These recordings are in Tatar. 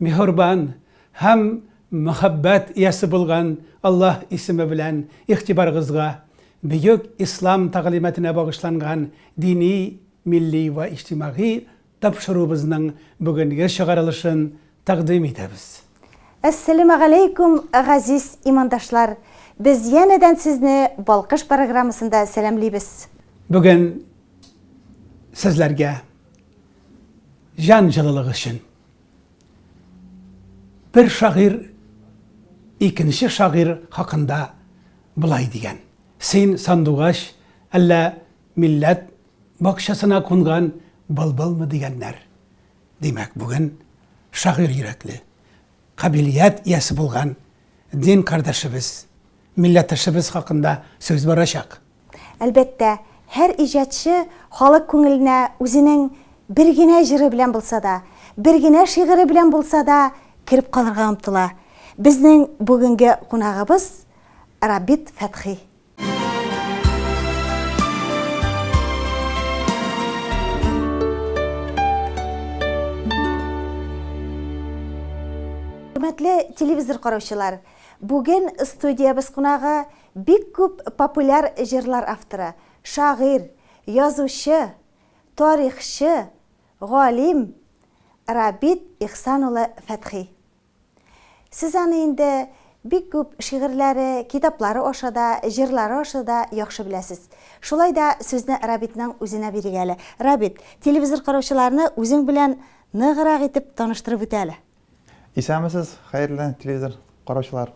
Миһорбан һәм Мөхәббәт иясе булган Аллаһ исеме белән игътибарыгызга бөек Ислам тәгълиматына багышланган дини, милли вә иҗтимагый тапшыруыбызның бүгенге чыгарылышын тәкъдим итәбез. Әссәләмәгаләйкүм, газиз имандашлар! Без янәдән сезне Балкыш программасында сәламлибез. Бүген сезләргә Җан җылылыгы өчен. Бер шагыйрь икенче шагыйрь хакында болай дигән, Син сандугач, әллә милләт бакчасына кунган былбылмы дигәннәр. Димәк, бүген шагыйрь йөрәкле, кабилият иясе булган дин кардәшебез, милләттәшебез хакында сүз барачак. Әлбәттә, һәр иҗатчы халык күңеленә үзенең бер генә җыры белән булса да, бер генә шигыре белән булса да кереп калырга омтыла. Безнең бүгенге кунагыбыз, Рабит Фәтхи. Хөрмәтле телевизор караучылар, бүген студиябез кунагы, Бик күп популяр җырлар авторы, шагыйрь, язучы, тарихчы, галим Рабит Ихсан улы Фәтхи. Сез аны инде бик күп шигырьләре, китаплары аша да, җырлары аша да яхшы беләсез. Шулай да сүзне Рабитның үзенә бирик әле. Рабит, телевизор караучыларны үзең белән ныграк итеп таныштырып үтә әле. Исәнмесез, хәерле телевизор караучылар.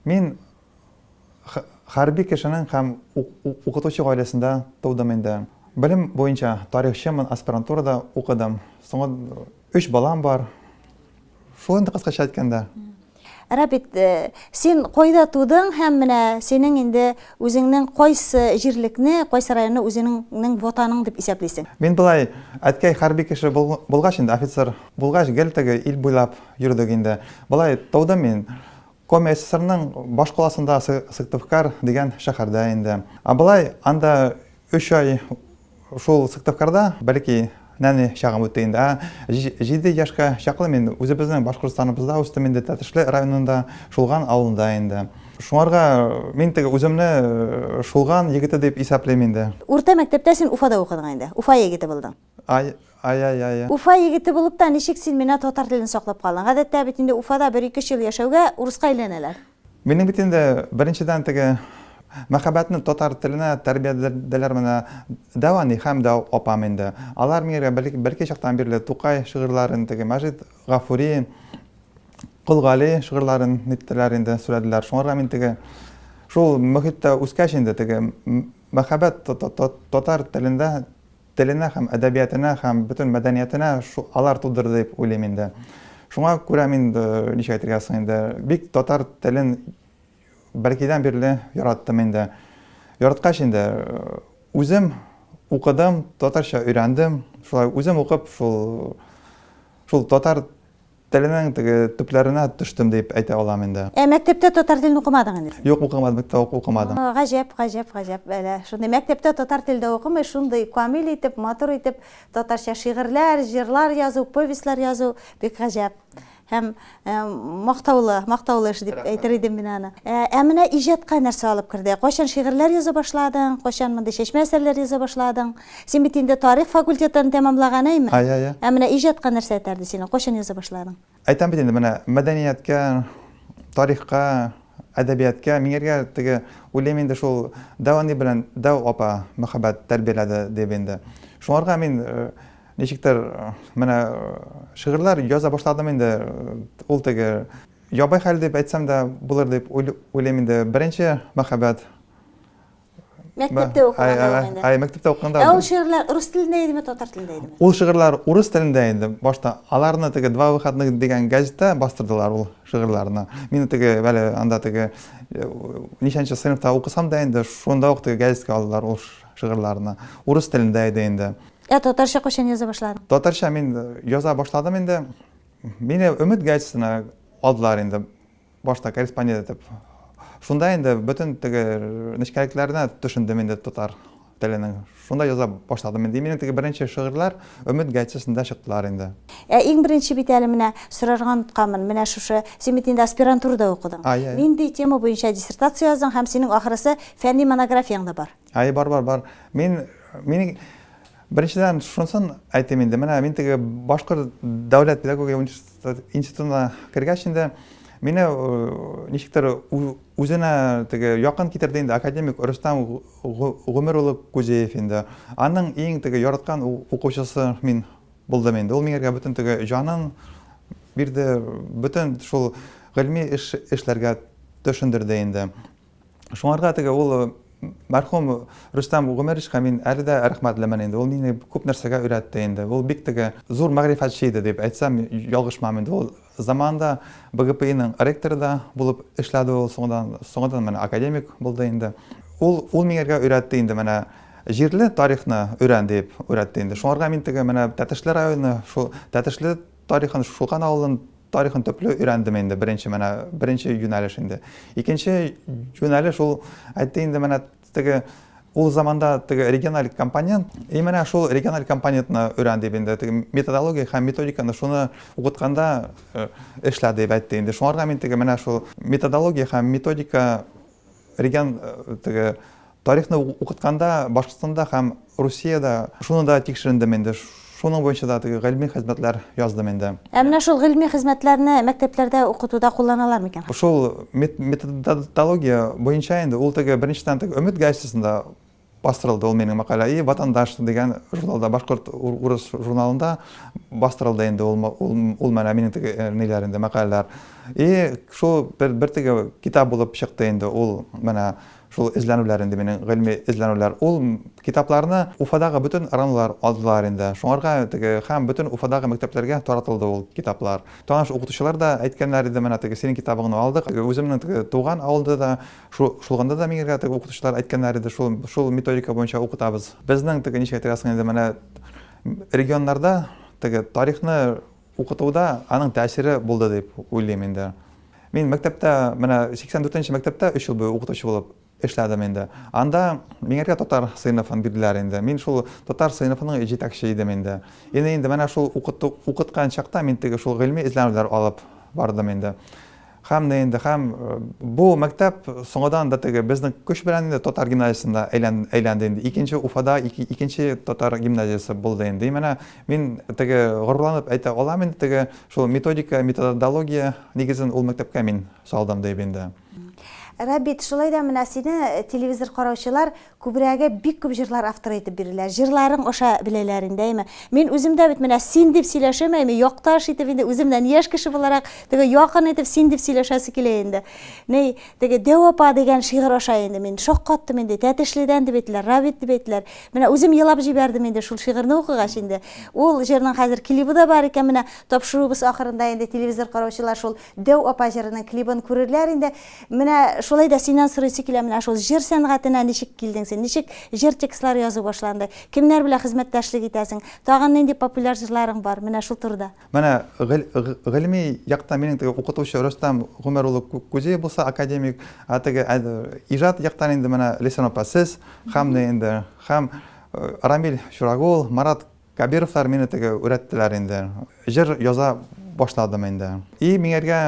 Мин хәрби кешенең һәм укытучы гаиләсендә тудым инде. Белем буенча тарихчымын, аспирантурада укыдым. Соңы өч балам бар. Шул инде кыскача әйткәндә. Рабит, э, син кайда тудың һәм менә синең инде үзеңнең кайсы җирлекне, кайсы районны үзеңнең ватаның дип исәплисең? Мин болай, әткәй хәрби кеше булгач инде офицер Булгач, гел теге ил буйлап йөрдек инде. Болай тудым мин. Коми ССРның башкаласында Сыктывкар дигән шәһәрдә инде. Ә болай анда өч ай шул Сыктывкарда, бәлки, нәни чагым үтте инде. Ә җиде яшькә чаклы мин үзебезнең Башкортстаныбызда үстем инде, Тәтешле районында, Шулган авылында инде. Шуңарга мин теге үземне Шулган егете дип исәплим инде. Урта мәктәптә син Уфада укыдың инде. Уфа егете булдың. Ай, ай, ай, ай. Уфа егете булып та ничек син менә татар телен саклап калдың? Гадәттә бит инде Уфада бер ике-өч ел яшәүгә урыска әйләнәләр. Минем бит инде беренчедән теге мәхәббәтне татар теленә тәрбияләделәр менә Дәвани һәм дә апам инде. Алар миңа бәлки чактан бирле Тукай шигырьләрен, теге Мәҗит Гафури, Кол Гали шигырьләрен ниттеләр инде, сүләделәр. Шуңарга мин теге шул мөхиттә үскәч инде теге мәхәббәт татар телендә Теленә һәм әдәбиятына һәм бөтен мәдәниятына шу, алар тудырды дип уйлыйм инде. Шуңа күрә мин, ничек әйтергә соң инде, бик татар телен бәлкидән бирле яраттым инде. Яраткач инде, үзем укыдым, татарча өйрәндем. Шулай үзем укып, шул, шул татар. Теленең теге төпләренә төштем дип әйтә алам инде. Ә мәктәптә татар телен укымадың инде син? Юк, укымадым, укымадым. Гаҗәп, гаҗәп, гаҗәп, әле шундый мәктәптә татар теле дә укымый, шундый камил итеп, матур итеп татарча шигырьләр, җырлар язу, повестьлар язу, бик гаҗәп һәм мактаулы, мактаулы эш дип әйтер идем мин аны. Ә менә иҗатка нәрсә алып керде? Кайчан шигырьләр яза башладың? Кайчан мондый чәчмә әсәрләр яза башладың? Син бит инде тарих факультетларын тәмамлаган, әйме? Ай, ай, ай. Ә менә иҗатка нәрсә этәрде сине? Кайчан яза башладың? Әйтәм бит инде, менә мәдәнияткә, тарихка, әдәбияткә миңергә теге, уйлыйм инде шул Дәү әни белән Дәү апа мәхәббәт тәрбияләде дип инде. Шуңарга мин ничектер менә шигырьләр яза башладым инде, ул теге ябай хәл дип әйтсәм дә булыр дип уйлыйм инде. Беренче мәхәббәт. Мәктәптә укыганда. Ай, мәктәптә укыганда. Ә ул шигырьләр рус телендә идеме, татар телендә идеме? Ул шигырьләр урыс телендә иде. Башта аларны теге Два выходных дигән газетта бастырдылар ул шигырьләрне. Мин теге бәле анда теге э, ничәнче сыйныфта укысам да инде, шунда ук теге газетка алдылар ул шигырьләрне. Урыс телендә иде инде. Ә татарча кайчан яза башладың? Татарча мин э, яза башладым инде. Мине Өмет газетына алдылар инде. Башта корреспондент итеп. Шунда инде бөтен теге нечкәлекләренә төшендем инде татар теленең. Шунда яза башладым инде. Минем теге беренче шигырьләр Өмет гәҗитсендә чыктылар инде. Ә иң беренче бит әле менә сорарга онытканмын, менә шушы, син бит инде аспирантурада укыдың. Ай, ай. Нинди тема буенча диссертация яздың һәм синең ахрысы фәнни монографияң да бар. Ай, бар, бар, бар. Мин, мин беренчедән шунысын әйтим инде, менә мин теге Башкорт дәүләт педагогия университетында Институтына кергәч инде мине ничектер үзенә теге якын китерде инде академик Рөстәм Гомер улы Күзеев инде. Аның иң теге яраткан укучысы мин булдым инде. Ул миңа бөтен теге җанын бирде, бөтен шул гыйльми эш эшләргә төшендерде инде. Шуңарга теге ул мәрхүм Рөстәм Гомәровичка мин әле дә рәхмәтлемен инде. Ул мине күп нәрсәгә өйрәтте инде. Ул бик теге зур мәгърифәтче иде дип әйтсәм, ялгышмам инде. Ул заманында БГПИның ректоры да булып эшләде ул, соңдан, соңдан менә академик булды инде. Ул ул миңа өйрәтте инде менә җирле тарихны өйрән дип өйрәтте инде. Шуңарга мин теге менә Тәтешле районы, шул Тәтешле Тарихын, Шулкан авылын тарихын төпле өйрәндем инде, беренче менә, беренче юнәлеш инде. Икенче юнәлеш ул, әйтте инде менә теге ул заманда теге региональ компонент, и менә шул региональ компонентны өйрән дип инде, теге методология һәм методиканы шуны укытканда э, эшлә дип әйтте инде. Шуңарга мин теге менә шул методология һәм методика регион э, теге Тарихны укытканда Башкортстанда һәм Русиядә шуны да тикшерендем инде, шуның буенча да теге гыйльми хезмәтләр яздым инде. Ә менә шул гыйльми хезмәтләрне мәктәпләрдә укытуда кулланалар микән? Шул методология буенча инде ул теге беренчедән теге Өмет газетасында бастырылды ул минем мәкалә и Ватандаш дигән журналда башкорт урыс журналында бастырылды инде ул ул менә минем теге э, ниләр инде мәкаләләр. И шул бер бер теге китап булып чыкты инде ул менә Шул эзләнүләр инде минем, гыйльми эзләнүләр. Ул китапларны Уфадагы бөтен РАНлар алдылар инде. Шуңарга теге, һәм бөтен Уфадагы мәктәпләргә таратылды ул китаплар. Таныш укытучылар да әйткәннәр иде, менә теге синең китабыңны алдык. Үземнең теге туган авылда да, шул, шулганда да миңергә теге укытучылар әйткәннәр иде, шул, шул методика буенча укытабыз. Безнең теге ничек әйтергә соң инде, менә регионнарда теге тарихны Укытуда аның тәэсире булды дип уйлыйм инде. Мин мәктәптә, менә 84 нче мәктәптә өч ел буе укытучы булып эшләдем инде. Анда миңәргә татар сыйныфын бирделәр инде. Мин шул татар сыйныфының җитәкче идем инде. Ине инде менә шул укыткан чакта мин теге шул гыйльми эзләнүләр алып бардым инде. Һәм дә инде, һәм бу мәктәп соңадан да теге безнең көч белән инде татар гимназиясендә әйлән, әйләнде инде. Икенче Уфада ике, икенче татар гимназиясе булды инде. И менә мин теге горурланып әйтә алам инде, теге шул методика, методология нигезен ул мәктәпкә мин салдым дип инде. Рабит, шулай да менә сине телевизор караучылар Күбрәге бик күп җырлар авторы итеп бирелә. Җырларың аша беләләр инде, әйме. Мин үзем дә бит менә син дип сөйләшәм, әйме, якташ итеп инде үземнән яшь кеше буларак, теге якын итеп син дип сөйләшәсе килә инде. Ни, теге Дәү апа дигән шигырь аша инде мин шаккаттым инде, Тәтешледән дип әйттеләр, Равит дип әйттеләр. Менә үзем елап җибәрдем инде шул шигырьне укыгач инде. Ул җырның хәзер клибы да бар икән, менә тапшыруыбыз ахырында инде телевизор караучылар шул Дәү апа җырының клибын күрерләр инде. Менә шулай да синнән сорыйсы килә, менә шул җыр сәнгатенә ничек килдең син? Ничек җыр текстлары язу башланды? Кемнәр белән хезмәттәшлек итәсең? Тагын нинди популяр җырларың бар? Менә шул турыда. Менә гыл гыльми яктан минем теге укытучы Рөстәм Гомәр улы Күзиев булса, академик, ә теге иҗат яктан инде менә Леся апа сез, һәм дә инде, һәм Рамил Чурагул, Марат Кабировлар мине теге үрәттеләр инде. Җыр яза башладым инде. И миңергә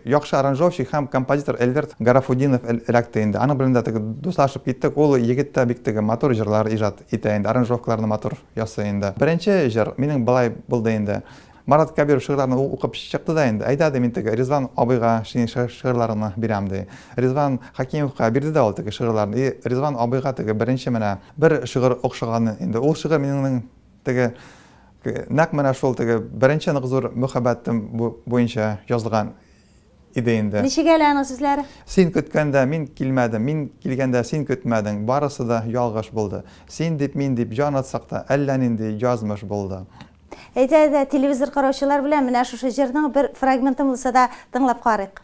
яхшы аранжовщик һәм композитор Эльверт Гарафудинов эләкте инде. Аның белән дә теге дуслашып киттек. Ул егет тә бик теге матур җырлар иҗат итә инде, аранжировкаларны матур ясый инде. Беренче җыр минем болай булды инде. Марат Кәбиров шигырьләрне ул укып чыкты да инде, Әйдә, ди, мин теге Ризван абыйга синең шигырьләреңне бирәм, ди. Ризван Хәкимовка бирде дә ул теге шигырьләрне. И, Ризван абыйга теге беренче менә бер шигырь охшаган инде. Ул шигырь минеңнең теге, нәкъ менә шул теге беренче нык зур мөхәббәтем буенча язылган иде инде. Ничек әле аның сүзләре? Син көткәндә мин килмәдем, мин килгәндә син көтмәдең, барысы да ялгыш булды. Син дип, мин дип җан атсак та, әллә нинди язмыш булды. Әйдә-әйдә, телевизор караучылар белән менә шушы җырның бер фрагментын булса да тыңлап карыйк.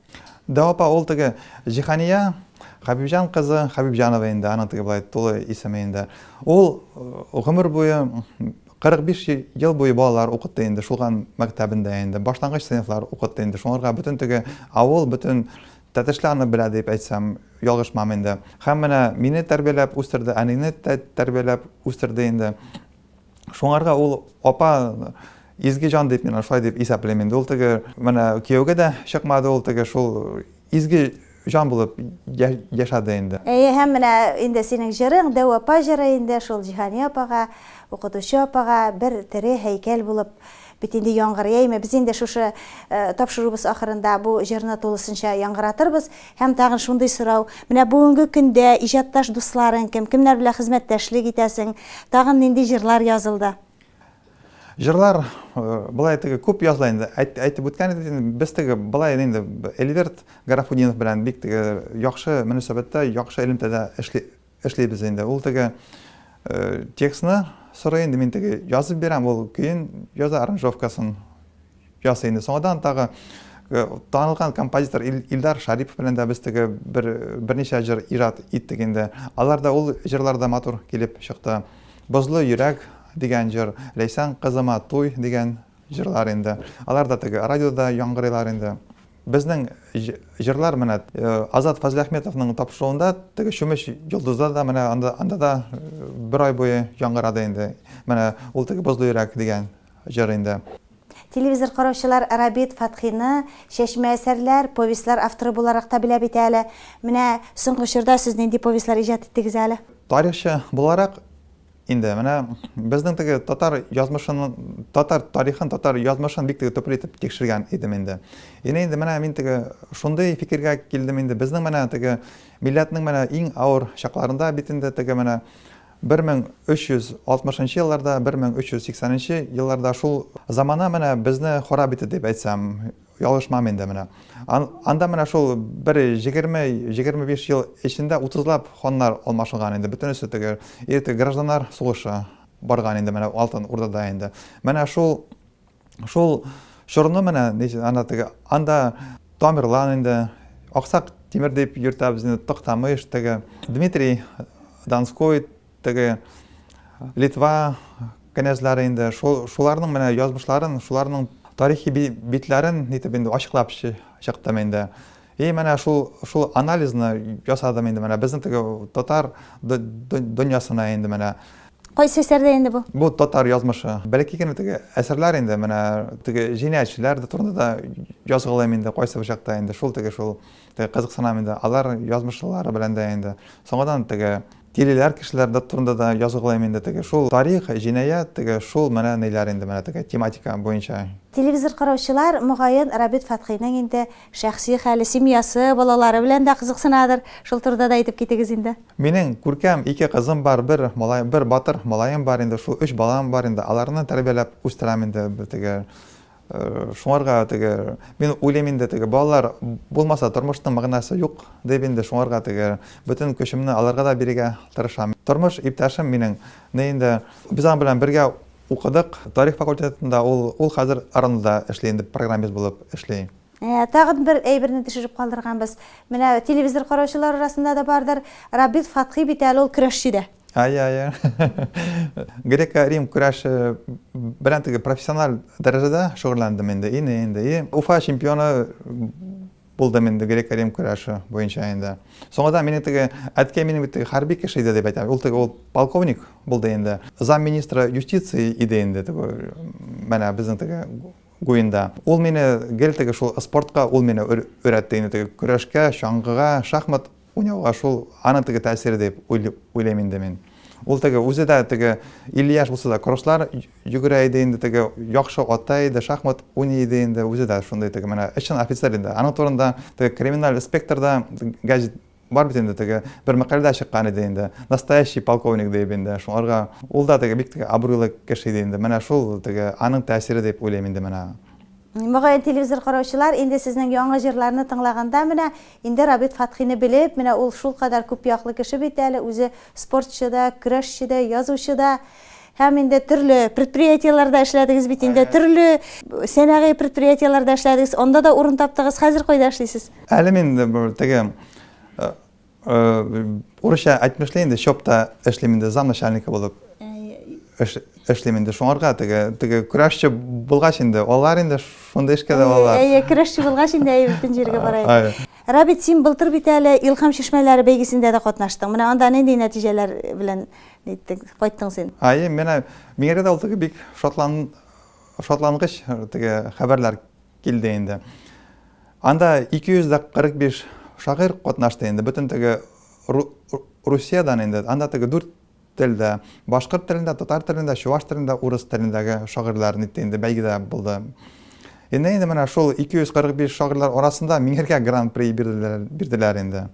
Да, апа, ул теге Җиһания Хәбибҗан кызы Хәбибҗанова инде, аның теге болай тулы исеме инде. Ул э, гомер буе 45 ел буе балалар укытты инде, шулган мәктәбендә инде, башлангыч сыйныфлар укытты инде. Шуңарга бөтен теге авыл, бөтен Тәтешле аны белә дип әйтсәм, ялгышмам инде. Һәм менә мине тәрбияләп үстерде, әнине тәрбияләп үстерде инде. Шуңарга ул апа изге җан дип мин шулай дип исәплим инде. Ул теге менә кияүгә дә чыкмады, ул теге шул изге җан булып яшәде инде. Әйе, һәм менә инде синең җырың, Дәү апа җыры инде шул Җиһания апага, укытучы апага бер тере һәйкәл булып Бит инде яңгыр яймы, без инде шушы тапшыруыбыз ахырында бу җырны тулысынча яңгыратырбыз. Һәм тагын шундый сорау, менә бүгенге көндә иҗатташ дусларың кем, кемнәр белән хезмәттәшлек итәсең, тагын нинди җырлар язылды? Җырлар былай теге күп языла инде, әйтеп үткән иде, без теге былай инде Эльверт Гарафудинов белән бик теге яхшы мөнәсәбәттә, яхшы элемтәдә эшли, Эшлибез инде. Ул теге текстны сорый инде, мин теге язып бирәм, ул көен яза, аранжировкасын ясый инде. Соңадан тагы танылган композитор Илдар Шарипов белән дә без теге бер берничә җыр иҗат иттек инде. Алар да ул җырлар да матур килеп чыкты. Бозлы йөрәк дигән җыр, Ләйсән кызыма туй дигән җырлар инде. Алар да теге радиода яңгырыйлар инде. Безнең җырлар менә Азат Фазлиәхметовның тапшыруында теге чүмеч йолдызлар да менә анда, анда да бер ай буе яңгырады инде. Менә ул теге бозлы йөрәк дигән җыр инде. Телевизор караучылар Рабит Фатхины чәчмә әсәрләр, повестьлар авторы буларак та белә бит әле. Менә соңгы чорда сез нинди повестьлар иҗат иттегез әле? Тарихчы буларак Инде менә безнең теге татар язмышын, татар тарихын, татар язмышын бик теге төпле итеп тикшергән идем инде. Ина инде менә мин теге шундый фикергә килдем инде, безнең менә теге милләтнең менә иң авыр чакларында бит инде теге менә 1360 елларда, 1380 елларда шул замана менә безне харап итте дип әйтсәм, Ялгышмам инде менә. Анда менә шул бер җегерме, җегерме биш ел эчендә утызлап ханнар алмашынган инде. Бөтенесе теге иртә гражданнар сугышы барган инде менә Алтын Урдада инде. Менә шул шул чорны менә ана теге анда Тамерлан инде Аксак Тимер дип йөртә безне Токтамыш теге Дмитрий Донской Теге Литва кенәзләре инде шуларның менә язмышларын, шуларның тарихи битләрен нитеп инде ачыклап чыктым инде. И менә шул шул анализны ясадым инде менә безнең теге татар дөньясына инде менә. Кайсы әсәрдә инде бу? Бу татар язмышы. Бәлки генә теге әсәрләр инде менә теге җинаятьчеләр дә турында да язгалыйм инде кайсы бер чакта инде шул теге шул Теге кызыксынам инде, алар язмышлары белән дә инде. Соңадан теге тилеләр кешеләр дә турында да языгылыйм инде теге. Шул тарих, җинаять, теге шул менә ниләр инде менә теге тематика буенча. Телевизор караучылар, мөгаен, Рабит Фәтхиның инде шәхси хәле, семьясы, балалары белән дә кызыксынадыр. Шул турыда да әйтеп китегез инде. Минең күркәм ике кызым бар, бер малай, бер батыр малаем бар инде, шул өч балам бар инде. Аларны тәрбияләп үстерәм инде теге. Шуңарга теге, мин уйлыйм инде теге балалар булмаса тормышның мәгънәсе юк дип инде шуңарга теге бөтен көчемне аларга да бирергә тырышам. Тормыш иптәшем минең не инде без аның белән бергә укыдык тарих факультетында ул, ул хәзер РАНда эшли инде программист булып эшли. Тагын бер әйберне төшереп калдырганбыз. Менә телевизор караучылар арасында да бардыр. Рабит Фатхи бит әле ул көрәшче дә. Ай, ай, ай. Греко-Рим көрәше белән теге профессиональ дәрәҗәдә шөгыльләндем инде, ине инде. И Уфа чемпионы булдым инде греко-рим көрәше буенча инде. Соңыда мине теге әткәй минем бит хәрби кеше иде дип әйтә. Ул теге ул полковник булды инде. Замминистра юстиции иде инде теге. Менә безнең теге Гуинда. Ул мине гел теге шул спортка, ул мине өйрәтте инде теге көрәшкә, чаңгыга, шахмат уйнауга шул аны теге тәэсире дип уйлыйм инде мин. Ул теге үзе дә теге 50 яшь булса да кросслар йөгерә иде инде теге яхшы ата иде, шахмат уйный иде инде, үзе дә шундый теге менә эшчән офицер инде. Аның турында теге криминаль инспекторда гәҗит Бар бит инде теге бер мәкаләдә чыккан иде инде. Настоящий полковник дип инде. Шуңарга ул да теге бик теге абруйлы кеше иде инде. Менә шул теге аның тәэсире дип уйлыйм инде менә. Мөгаен телевизор караучылар инде сезнең яңа җырларны тыңлаганда менә инде Рабит Фатхины белеп, менә ул шулкадәр күпьяклы кеше бит әле, үзе спортчы да, көрәшче дә, язучы да. Һәм инде төрле предприятиеләрдә эшләдегез бит инде, төрле сәнәгый предприятиеләрдә эшләдегез, анда да урын таптыгыз. Хәзер кайда эшлисез? Әле мин теге э, э, урысча әйтмешли инде чопта эшлим инде замначальника булып эшлим инде шуңарга теге теге көрәшче булгач инде алар инде шундый эшкә дә алар әйе көрәшче булгач инде әйе бөтен җиргә барайык Рабит, син былтыр бит әле Илхам чишмәләре бәйгесендә дә катнаштың. Менә анда нинди нәтиҗәләр белән Ниттең, кайттың син? Ай, менә миңа да ул теге бик шатлан шатлангыч теге хәбәрләр килде инде. Анда 245 шагыйрь катнашты инде, бөтен теге Русиядән инде. Анда теге дүрт телдә, башкорт телендә, татар телендә, чуваш телендә, урыс телендәге шагыйрьләр нитте инде бәйгедә булды. Инде инде менә шул 245 шагыйрьләр арасында миңеркә гран-при бирделәр, бирделәр инде.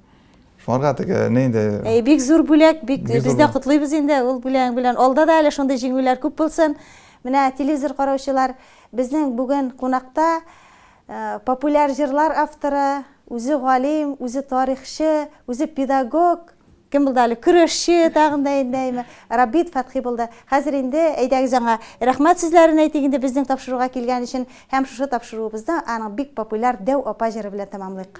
Шуңарга теге не инде. Әй, бик зур бүләк, бик без дә котлыйбыз инде ул бүләгең белән. Алда да әле шундый җиңүләр күп булсын. Менә телевизор караучылар, безнең бүген кунакта популяр җырлар авторы, үзе галим, үзе тарихчы, үзе педагог, кем булды әле көрәшче тагын да инде әйме рабит фәтхи булды хәзер инде әйдәгез аңа рәхмәт сүзләрен әйтик инде безнең тапшыруга килгән өчен һәм шушы тапшыруыбызны аның бик популяр дәү апа җыры белән тәмамлыйк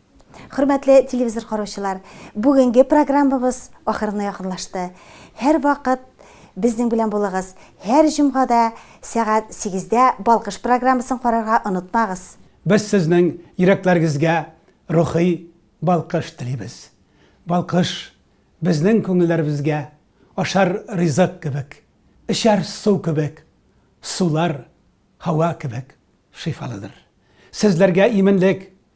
Хөрмәтле телевизор караучылар, бүгенге программабыз ахырына якынлашты. Һәрвакыт безнең белән булыгыз. Һәр җомгада сәгать сигездә Балкыш программасын карарга онытмагыз. Без сезнең йөрәкләрегезгә рухи балкыш телибез. Балкыш, безнең күңелләребезгә ашар ризык кебек, эчәр су кебек, сулар һава кебек шифалыдыр. Сезләргә именлек,